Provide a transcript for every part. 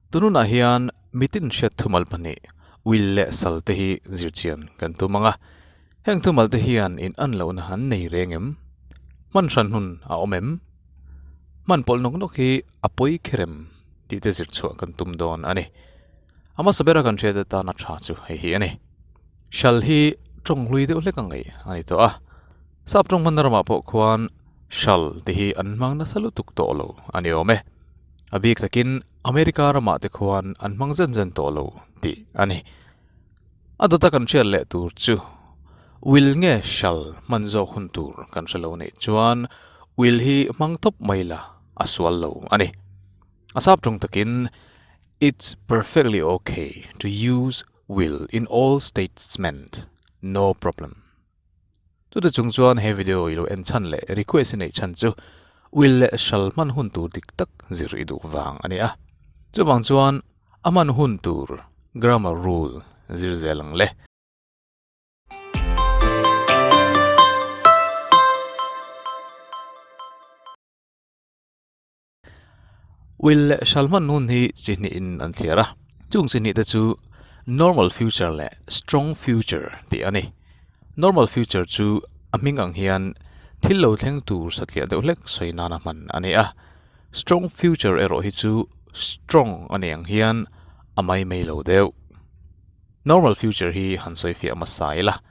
Tununah hian mi tinhriat thumal pahnih uil leh sal te hi zir chian kan tum ang a, heng thumal te hian in an lohna an nei reng em? Hman hranhun a awm em? Hman pawlh nawk nawk hi a pawi kher em? tih te zir chhuah kan tum dawn a ni. A hmasa bera kan hriat atana tha chu hei hi a ni. Hral hi tawng hlui deuh hlek a ngaih a ni tawh a. Sap tawng hmanna ramah pawh khuan hral te hi an hmang nasa lutuk tawh lo a ni awm e. A bik takin America ramah te khuan an hmang zen zen tawh lo tih a ni. A dawta kan hriat leh tur chu Will nge hral hman zawk hun tur kan hre lo neih chuan Will hi hmang thawp mai la a sual lo a ni. A sap tawng takin It's perfectly ok to use Will in all statements, no problem. Chuti chung chuan he video i lo en chhan leh request i neih chhan chu wil leh hral hman hun tur dik tak zir i duh vang a ni a. Chuvang chuan a hman hun tur, grammar rule, zir zel ang le. Wil leh hral hman hun hi chihnihin an thliar a, chung chihnih te chu normal future leh strong future tih a ni. Normal future chu a hming ang hian thil lo thleng tur satliah deuh hlek sawi nana hman a ni a, strong future erawh hi chu strong a nih ang hian a mai mai lo deuh. Normal future hi han sawifiah a hmasa ila.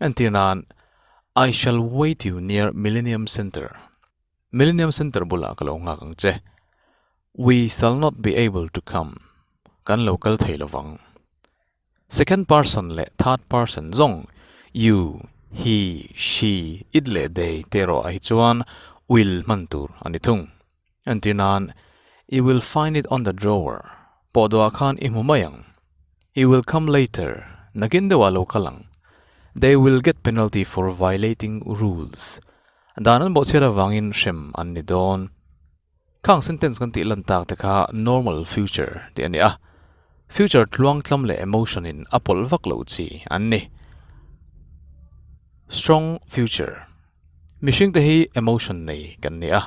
Entir nan, I shall wait you near Millennium Centre. Millennium Centre bula ka lo nghak ang che. We shall not be able to come. Kan lo kal thei lo vang. Second person leh third person zawng you, he, she, it leh they te erawh a hi chuan will hman tur a ni thung. An ti nan, I will find it on the drawer, pawh duah khan i hmu mai ang. It will come later, nakin deuh ah lo kal ang. They will get penalty for violating rules, dan an bawhchhiat avangin hrem an ni dawn. Khang sentence kan tih lan tak te kha normal future tih a ni a, future tluang tlam leh emotion in a pawlh vak lo chi an ni. Strong future. Mihring te hi emotion nei kan ni a,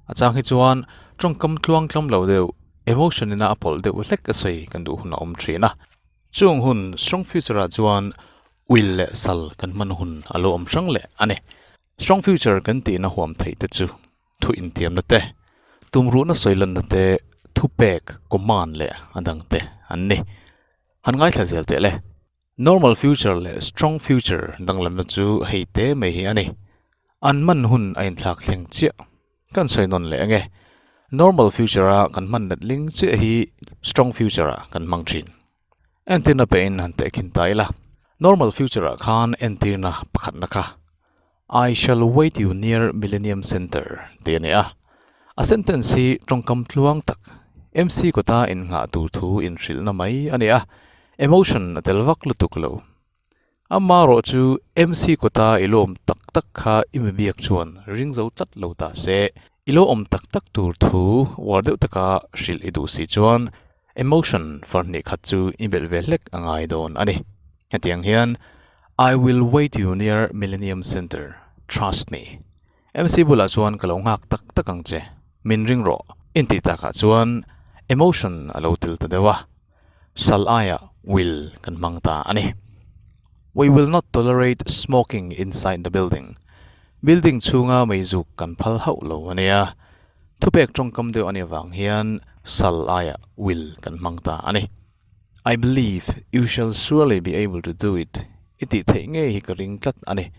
a chang hi chuan tawngkam tluang tlam lo deuh emotion ina a pawlh deuh hlek a sawi kan duh hun a awm thin a. Chung hun strong future ah chuan uil leh sal kan hman hun a lo awm hrang leh a ni. Strong future kan tih na huam theih te chu thu intiam na te, tumruh na sawi lan na te, thupek, command leh a dang te an ni. Han ngaithla zel teh le. Normal future leh strong future danglamna chu hei te mai hi a ni. An hman hun a inthlak thleng chiah. Kan sawi nawn leh enge? Normal future a kan hman let ling chiah hi strong future ah kan hmang thin. Entirna pehin han teh khin ta ila. Normal future ah khan entirna pakhatna kha. I shall wait you near Millenium Centre tih a ni a. A sentence hi tawngkam tluang tak, MC kawta inngah tur thu inhrilhna mai a ni a, emotion a tel vak lutuk lo. Amarawh chu MC kawta i lawm tak tak kha i mi biak chuan ring zo tlat lo ta se, i lawm tak tak tur thu uar deuh taka hrilh i duh si chuan Emotion far hnih khat chu i belh ve hlek a ngai dawn a ni. Hetiang hian I will wait you near Millenium Centre, trust me. MC bulah chuan ka lo nghak tak tak ang che, min ring rawh. Intih takah chuan Emotion a lo tel ta deuh a, sal aia will kan hmang ta a ni. We will not tolerate smoking inside the building. Building chhunga mei zuk kan phal hauh lo a nia. Thupek tawngkam deuh a nih avang hian sal aia wil kan hmang ta a ni. I believe you shall surely be able to do it i tih theih ngei hi ka ring tlat a ni.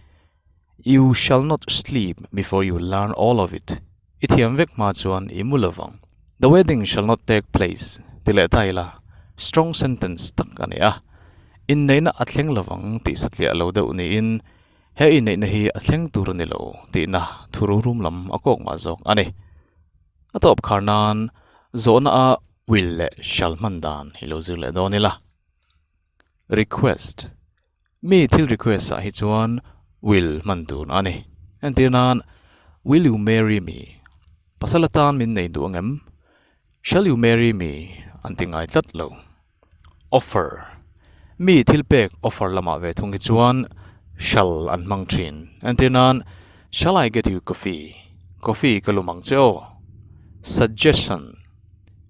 You shall not sleep before you learn all of it i thiam vek hma chuan i mu lo vang. The wedding shall not take place ti leh ta ila strong sentence tak a ni a. Inneihna a thleng lo vang tih satliah lo deuh niin, He inneihna hi a thleng tur a ni lo tihna thu rungrum lam a kawk mah zawk a ni. A tawp khar nan zawhna a wil leh hrial hman dan hi lo zir leh dawn ila. Request, Mi thil request ah hi chuan wil hman tur a ni. Entir nan, Will you marry me? Pasal atan min nei duh angem? Shall you marry me? an ti ngai tlat lo. Offer, mi thilpek offer lamah ve thung hi chuan shall an hmang thin. Entir nan, Shall I get you coffee? Coffee ka lum ang che aw. Suggestion,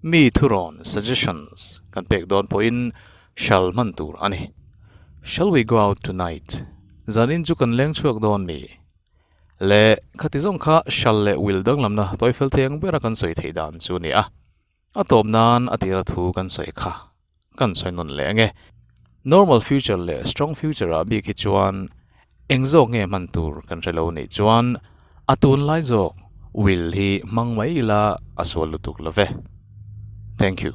mi thurawn, suggestions, kan pek dawn pawhin shall hman tur a ni. Shall we go out tonight? Zan in chu kan leng chhuak dawn mi? Leh, khati zawng kha shall leh will danglamna toifel thei ang bera kan sawi thei dan chu a ni a. A tawp nan a tira thu kan sawi kha kan sawi nawn leh ange. Normal future leh strong future ah bik hi chuan eng zawk nge hman tur kan hre lo nih chuan a tun lai zawk will hi hmang mai ila a sual lutuk lo ve. Thank you.